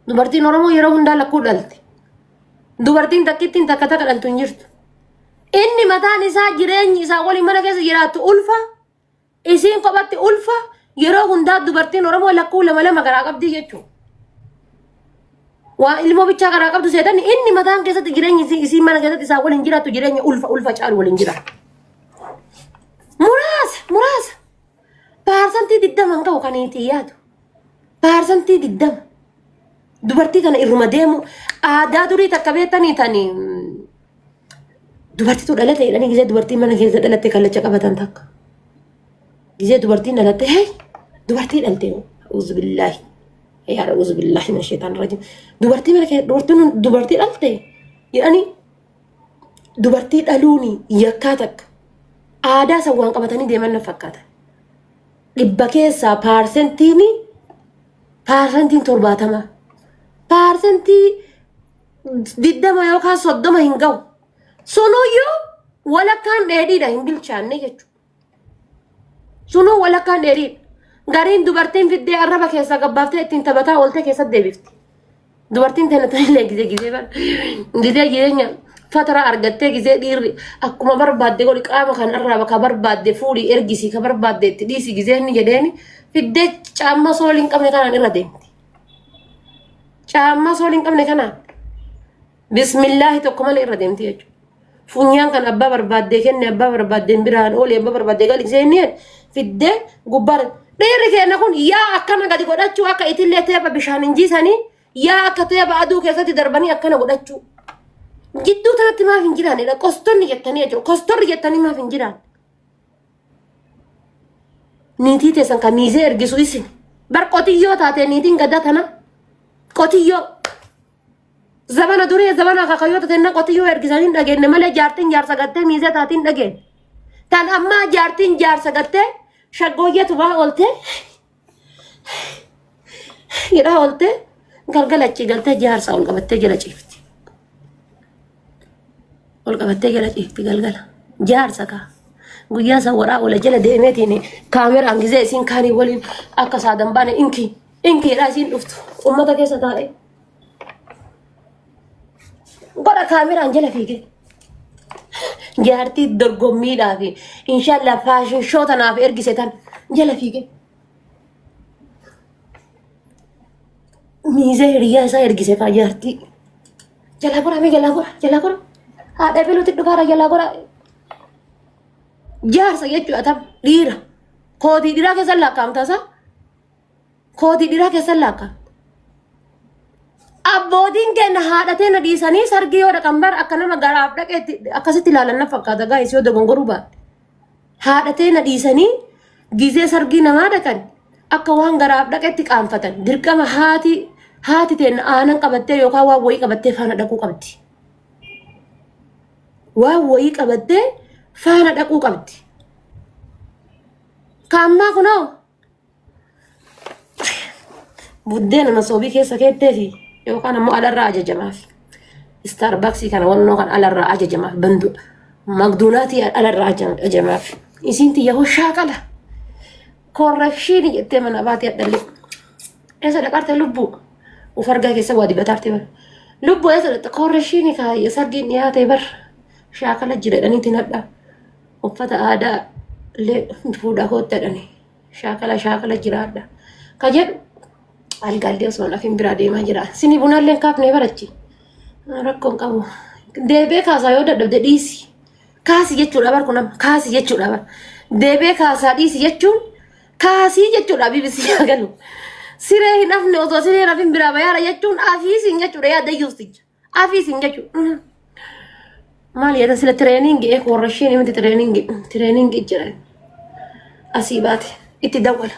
Dubartiin Oromoo yeroo hundaa lakkuu dhalti. Dubartiin takkittiin takka takka dhaltu hin jirtu. Inni mataan isaa jireenyi isaa waliin mana keessa jiraattu ulfa. Isiin kophatti ulfa. Yeroo hundaa dubartiin Oromoo lakkuu lama lama garaa qabdi jechuudha. Waa ilmoo bichaa garaa qabdu seetan inni mataan keessatti jireenyi isii- isiin mana keessatti isaa waliin jiraattu jireenya ulfa ulfa caalu waliin jiraattu. Muraasa muraasa. Paarsantii digdama hin qabu kan itti yaadu. Paarsantii digdama. Dubartii kana irruma deemu aadaa durii takka beektanii tani dubartiitu dhalate jedhanii gisee dubartii mana keessa dhalatte kallacha qabatan takka. Gisee dubartiin dhalatte hee dubartii dhalte uzu billaahi. Yaa ra'uuzu billaahi min sheetaan rajim. Dubartii mana keessa dubartiin dubartii dhalte jedhanii dubartii dhaluun yakkaa takka aadaa san waan qabatanii deeman na fakkaata. Dhibba keessaa paarsentiin paarsentiin torbaatama. Paarsentii diddama yookaan soddoma hin gahu. Sunuyyuu walakkaan dheedhiidha hin bilchaanne jechuudha. Sunuu walakkaan dheeriidha. Gariin dubartiin fiddee arraba keessaa gabbaaftee ittiin taphataa ooltee keessatti deebifti. Dubartiin tana tanillee gizee gizee bara. Gizee jireenya fatara argattee gizee dhiirri akkuma barbaadde godhi qaama kan arraaba ka barbaadde fuudhi ergisi ka barbaadde itti dhiisi gizee inni jedheeni fiddee caamma soolii hin qabne kanaan irra deemti. Caamma soolii hin qabne kanaan. Bismillaahi tokko malee irra deemti jechuudha. Funyaan kan abbaa barbaaddee kenne abbaa barbaaddeen biraan oole abbaa barbaaddee gadi seennee fiddee gubbaan dhiirri keenya kun yaa akkana gadi godhachuu akka itillee teeba bishaan hin jiisanii yaa akka teeba aduu keessatti darbanii akkana godhachuu. Jidduu tanatti maaf hin jiraanidha qostonni jettanii jechuudha qostorri jettanii maaf hin jiraan. Niitii teessan kan miisee ergisu isin bar qotiyyoo taatee niitiin gadda tana qotiyyoo. Zabana duree zabana kakayyoota tenna qotiyyoo ergisan hin dhageenye malee jaartiin jaarsa gattee miizee taate hin dhageenye. Tan ammaa jaartiin jaarsa gattee shaggooyyee tubaa ooltee hidhaa ooltee galgala achii galtee jaarsa ol qabattee jala ciifti. Ol qabattee jala ciifti galgala. Jaarsa kaa. Guyyaa san waraa ola jala deemeetiin kaameraan gizee isiin kaanii waliin akka saadan baane inkii. Inkeedhaa isiin dhuftu ummata keessa taa'e. Godha kaameraan jala fiige. Jaartii dorgommiidhaa fi inshaallah faashin shoo tanaaf ergise tan jala fiige. Miizee hiriyaa isaa ergise faa jaartii. Jalaa goraa mee jalaa goraa jalaa goraa. Haadha beeluutti dhufaara jalaa goraa. Jaarsa jechuudha tam dhiira. Kootii dhiiraa keessa lakkaa'amtaa isaa. Kooti dhiraa keessan laakka. Abbootiin keenya haadha teenya dhiisanii sargii yoo dhaqan bar akka nama garaaf dhaqeetti akkasitti ilaalan na fakkaata gaa'is yoo dogongoruu baadhe. Haadha teenya dhiisanii gizee sargii namaa dhaqan akka waan garaaf dhaqeetti qaanfatan dirqama haati haati teenya aanan qabattee yookaan waan wayii qabattee faana dhaquu qabdi. Waan wayii qabattee faana dhaquu qabdi. Kaammaa kunoo Buddeena masoobii keessa keettee fi yookaan ammoo alarraa ajajamaaf. Istaarbaksii kana wannoo kan alarraa ajajamaaf bandu magduunaatii alarraa ajajamaaf. Isiin tiyya hoo shaakala. Korrekshiini jettee mana baatee addallee. Eessa dhaqarte lubbuu? Uf argaa keessa waa dibataarte bara. Lubbuu eessa dhaqxe korrekshiini kaayya sargiin dhiyaate bara. Shaakala jira jedhaniitiin hadhaa. uffata aadaa illee fuudhaa kootta jedhani shaakala shaakala jiraadha ka jedhu algaallee osoo lafin biraa deemaa jira sini bunaallee kaafnee barachi rakkoon qabu deebee kaasaa yoo dadhabde dhiisi kaasi jechuudha bar kun amma kaasi jechuudha bar deebee kaasaa dhiisi jechuun kaasii jechuudha bbc haa galu siree hin hafne osoo siree hin hafin biraa bayaara jechuun afiisiin jechuudha yaada yuusticha Afiisin jechuudha. Maal yaada sila tireeningi eeku warra isheen himti tireeningi tireeningi jiran asii baate itti dawwala.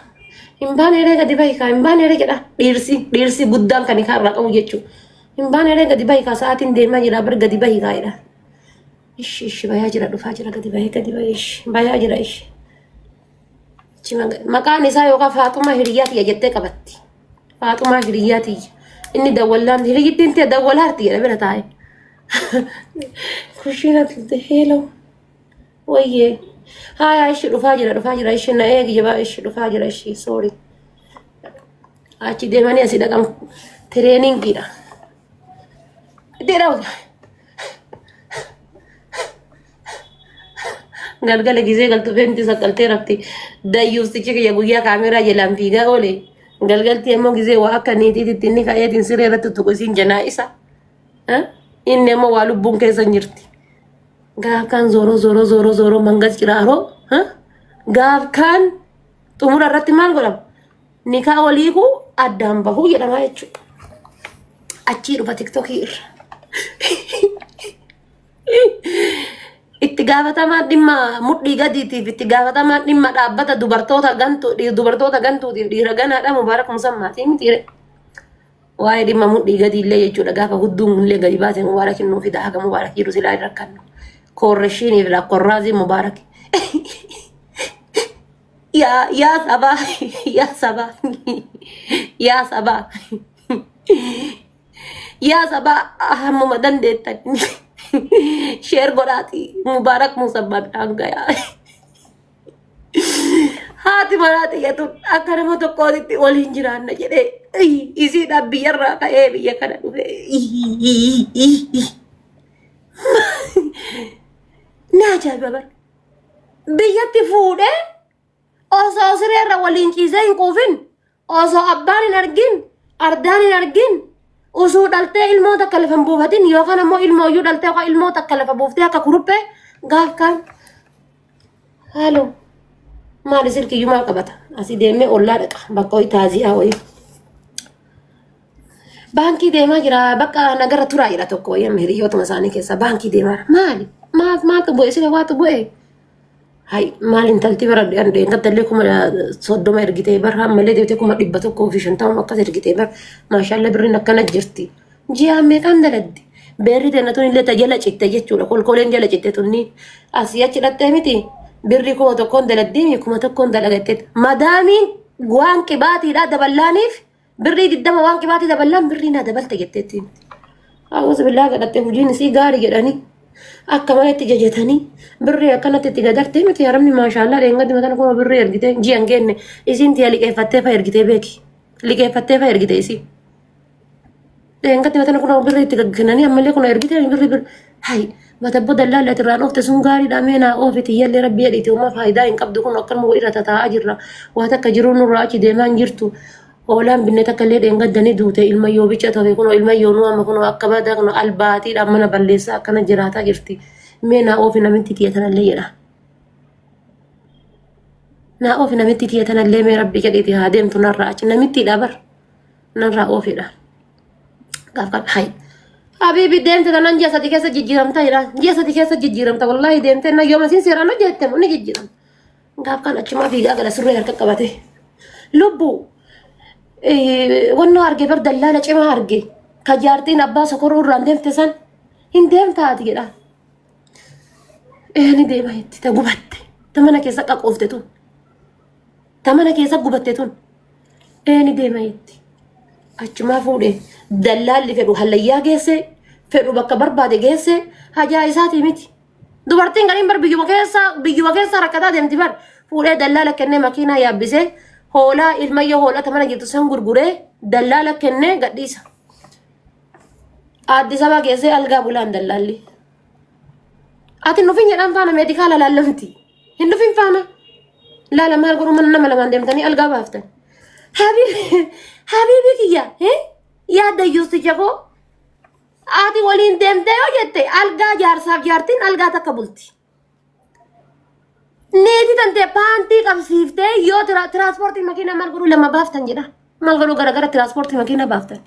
Hin baane eree gadi bahi kaa hin baane eree jedha dhiirsi dhiirsi guddaan kan hikaa irraa qabu jechuudha. Hin baane eree gadi bahi kaa sa'aatiin deemaa jira bar gadi bahi kaa jedha. Ishi ishi bayaa jira dhufaa jira gadi bahee gadi bahee ishi bayaa jira ishi. Achi maga- Maqaan isaa yookaan Faaxumaa hiriyaa tiyya jettee qabatti. Faaxumaa hiriyaa tiyya. Inni dawwallaan hiriyyittiin tiyya dawwalaarti jedha bira taa'e. Kushiina tulte heeloo. Wayyee. Haayaa ishi dhufaa jira dhufaa jira ishi na eegi jabaa ishi dhufaa jira ishi soori. Achi deemanii asii dhaqan tireeningiidha. Itti dhawu. galgala gisee galtu feenti saqqaltee rafti dayyuustichi kiyya guyyaa kaameeraa jalaan fiigaa oole galgaltii ammoo gisee waa akka niitiititti inni ka'eetiin siree irratti tuqu isiin janaa isa Eh? inni ammoo waa lubbuun keessa hin jirti gaaf kaan zooroo zooroo zooroo zooroo mangas ciraaroo Eh? gaaf kaan xumura irratti maal godhama nikaa waliiku addaan bahuu jedhama jechuudha achii dhufa tiktokii irra Itti gaafatamaan dhimma mudhii gadiitiif itti gaafatamaan dhimma dhaabbata dubartoota gantuu dhi- dubartoota gantuutiif dhiira ganaadha Mubaarak Musammaatii mitiire. Waa'ee dhimma mudhii gadii illee jechuudha gaafa hudduun illee gadi baase Mubaarak hin nuufida haga Mubaarak jiru silaa hin rakkannu. Koorreshiiniif lakkorraazii Mubaarak. Yaa yaa sabaa yaa sabaa yaa sabaa. Yaa sabaa hammuma dandeettan sheer godhaati mubaarak musabbaan dhaangayaa. Haati manaa xiyyatuun akka nama tokkootitti waliin jiraanna jedhee isiidhaan biyyarraa ka'ee biyya kana dhufe. Ni ajaa'iba bara. Biyyatti fuudhee osoo sireerra waliin ciisee hin quufin Osoo abbaan hin argin, ardaan hin argin, usuu dhaltee ilmoo takka lafa hin buufatin yookaan ammoo ilmoo iyyuu dhaltee yookaan ilmoo takka lafa buuftee akka kuruphee gaaf kaan. Haaloo. Maali silkiyyuu maal qabata? Asii deemee ollaa dhaqa bakka ho'i taaziyaa ho'i. Baankii deemaa jira bakka nagarra turaa jira tokko wayii amma hiriyootuma isaanii keessaa baankii deemaa jira. Maali? Maaf maaltu bu'e sila waatu bu'e? Hay maal intalti bara intaltallee kuma soddoma ergitee bar hammalee deemtee kuma dhibba tokkoo fi shantama akkas ergitee bar maashaalla birriin akkana jirti. Ji'aan meeqaan dalagdi? Beerri dannatuun illee ta jala citte jechuudha. Kolkoleen jala citte tunni asii achi dhattee miti. Birri kuma tokkoon dalagdee kuma tokkoon dalagattee. Madaamiin waan qibaatiidhaa daballaaniif Birrii digdama waan qibaatii daballaan birrii naa dabalte jetteetti himte. Haawwasa billaa kadhattee hojiin isii gaarii jedhanii akka malee itti jajatanii birrii akkanatti itti dadartee miti haramni maashaallaa dheengaddi matan kuma birrii ergitee ji'an geenne isiin tiya liqeeffattee fa ergitee beeki. Liqeeffattee fa ergite isii. Dheengaddi batana kun birri itti gaggenanii ammallee kun ergite birri birri. Hai matabbo dallaalli ati irraa dhoofte sun gaariidha mee naa oofi tiyyallee rabbi jedhiiti uumaa faayidaa hin qabdu kun akkanuma irra tataa'aa jirra. Waa takka jiruu nurraa achi deemaa hin jirtu. Hoolaan binne takka illee dheengaddanii duute ilma yoo bicha ta'e kun ilma yoo nu amma kun akka badaa kun albaatiidhaan mana balleessaa akkana jiraataa jirti. Mee naa oofi namitti tiyya tanallee jedha. Naa oofi namitti tiyya tanallee mee rabbi jedhiiti haa deemtu narraa achi namitti dhabar. narraa oofedha gaaf gaaf hayi habiibi deemte tanan ji'a sadi keessa jijjiiramta jedha ji'a sadi keessa jijjiiramta wallaahi deemte na yooma isin seeraan hojjette ni jijjiiramta gaaf kan achumaa fiigaa gala surree harka qabate lubbu wannoo arge bar dallaala cimaa arge ka jaartiin abbaa sokoruu irraan deemte san hin deemtaati jedha ee ni deema jetti ta gubatte ta mana keessa qaqoofte tun Ta mana keessa gubatte tun eeni deema jetti. Achumaa fuudhee dallaalli fedhu hallayyaa geessee fedhu bakka barbaade geessee hajaa isaatii miti. Dubartiin gariin bar biyyuma keessa biyyuma keessa rakkataa deemti bar fuudhee dallaala kennee makiinaa yaabbisee hoolaa ilmayyoo hoolaa ta mana jirtu san gurguree dallaala kennee gadhiisa. Addis Ababa geessee algaa bulaan dallaalli. Ati nufi jedhan faana meedikaala laallamti. Hin dhufin faana. Laala maal godhu mana nama lamaan deemtanii algaa baaftan. Habiibi habiibi kiyya eh? yaadda yuusti jaboo ati waliin deemte yoo jette algaa jaarsaaf jaartiin algaa takka bulti. Neeti tante paantii qabsiiftee yoo tira- tiraanspoortii makiinaa maal godhu lama baaftan jedha. Maal godhu garagara tiraanspoortii makiinaa baaftan.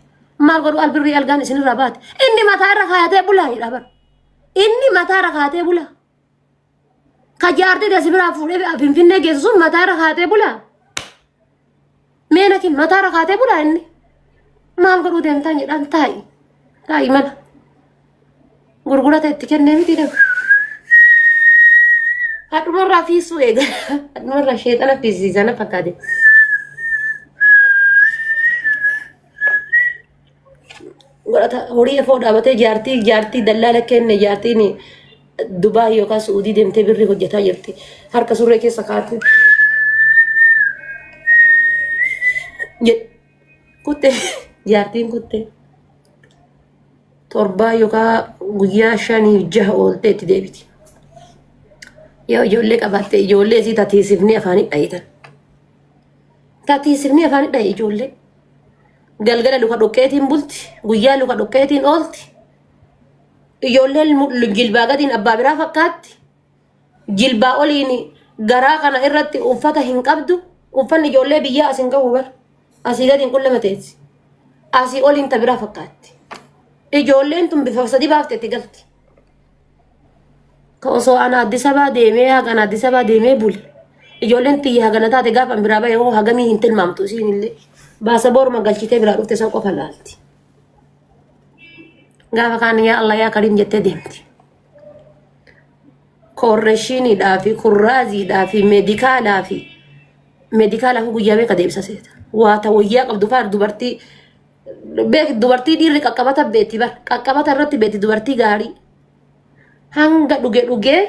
Maal godhu albirrii algaan isinirraa baate. Inni mataa irra kaayatee bulaa jedha bara. Inni mataa irra kaayatee bulaa. Ka jaartii dasi biraa fuudhee finfinnee geessu sun mataa irra kaatee bulaa. Mee nakin mataa irra kaatee bulaa inni. Maal godhuu deemtaan jedhaan taa'i. Taa'i mana. Gurgurata itti kennee miti deemu. Hadhumarraa fiisuu eega. Hadhumarraa sheexana fiisiisana fakkaate. godhata horii efoo dhaabatee jaartii jaartii dallaala kenne jaartiin Dubaa yookaan Su'uudii deemtee birri hojjetaa jirti. Harka surree keessa kaatee. Je- Kutte jaartiin kutte torbaa yookaan guyyaa shanii jaha ooltee itti deebiti. Yoo ijoollee qabaatte ijoollee isii tatiisifnee afaanii dhayitan. Tatiisifnee afaanii dhayi ijoollee. galgala luka dhoqqeetiin bulti guyyaa luka dhoqqeetiin oolti ijoolleen mu- jilbaa gadiin abbaa biraa fakkaatti jilbaa oliin garaa kana irratti uffata hin qabdu uffanni ijoollee biyyaa as hin qabu bar asii gadiin qullama teessi asii oliin ta biraa fakkaatti ijoolleen tun bifa sadi baafte itti galti Ka osoo ana Addis Abaa deemee hagan Addis Abaa deemee bule. Ijoolleen tiyya hagana taate gaafa biraa ba'e hoo hagamii hin tilmaamtu isiin illee. Baasa booruma galchitee biraa dhufte san qofa laalti. Gaafa kaan yaa Allah yaa Kariim jettee deemti. Koorreeshiniidhaa fi kurraaziidhaa fi meedikaalaa fi meedikaalaaf guyyaa beeka deebisa seeta. Waa ta wayyaa qabdu faar dubartii beek dubartii dhiirri qaqqabata beetti bar qaqqabata irratti beetti dubartii gaarii hanga dhuge dhugee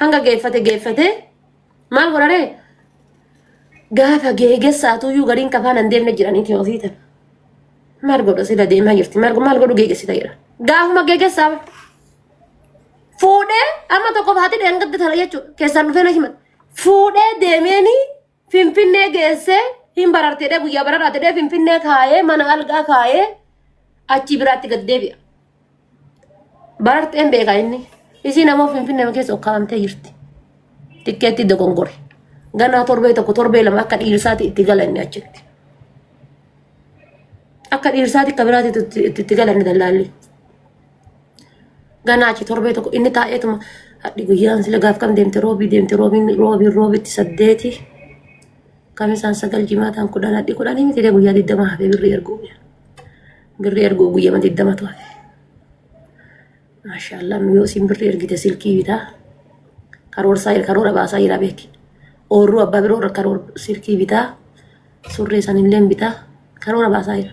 hanga geeffate geeffate maal godhare gaafa geegessaatuyyuu gariin kafaan hin deemne jiraniiti ofii tana maal godha sila deemaa jirti maal maal godhu geegessita jedha gaafuma geegessaa bar fuudhee amma tokko baatee dheengadde tana jechuudha keessaan dhufee na himan fuudhee deemeenii Finfinnee geessee hin barartedhee guyyaa bararaatedhee Finfinnee kaayee mana algaa kaayee achii biraatti gad deebi'a. Bararteen beekaa inni. Isiin ammoo Finfinnee keessa ukkaamtee jirti. Tikkeetti dogongore. Ganaa torbee tokko torbee lama akka dhiirsaati itti gala inni achitti. Akka dhiirsaati akka biraatti itti itti gala inni dallaalli. Ganaa achi torbee tokko inni taa'eetuma hadhi guyyaan sila gaaf kam deemte roobii deemte roobiin roobiin roobitti saddeeti kamisaan sagal jimaataan kudhan hadhi kudhanii miti dee guyyaa digdama hafee birrii erguu birrii erguu guyyama digdamatu hafe. Maashaallah yoo isin birrii ergite silkii bitaa karoorsaa karoora baasaa jira beeki. Oorruu abbaa biroo irra karoora silkii bitaa surree sanillee bitaa karoora baasaa jira.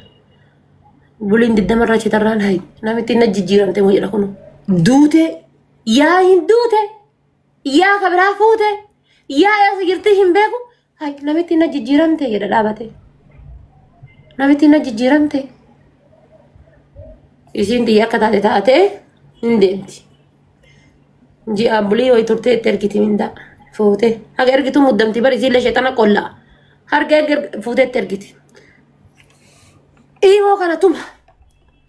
Buliin diddama irraa citarraan hayi. Namittiin na jijjiiramte moo jedha kunu. Duute yaa hin duute yaa ka biraa fuute yaa eessa jirti hin beeku. Hayi namittiin na jijjiiramte jedha dhaabate. Namittiin na jijjiiramte. Isiin xiyya akka taate taatee hin deemti. Ji'a bulii wayi turtee itti ergiti mindaa fuutee. Haga ergitu muddamti bari isiillee sheexana qollaa. Harga erga fuutee itti ergiti. Imoo kana tuma.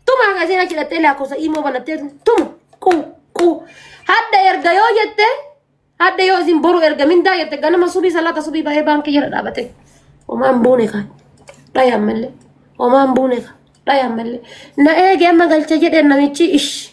Tuma hanga isheen achi dhattee lakkoofsa imoo banattee tuma. Qu qu. Hadda erga yoo jette hadda yoo isin boru erga mindaa jette ganama subii salaata subii bahee baankii jala dhaabate. Homaan buune kan. Dhaya ammallee. Homaan buune kan. Dhaya ammallee. Na eege amma galcha jedheen namichi ish.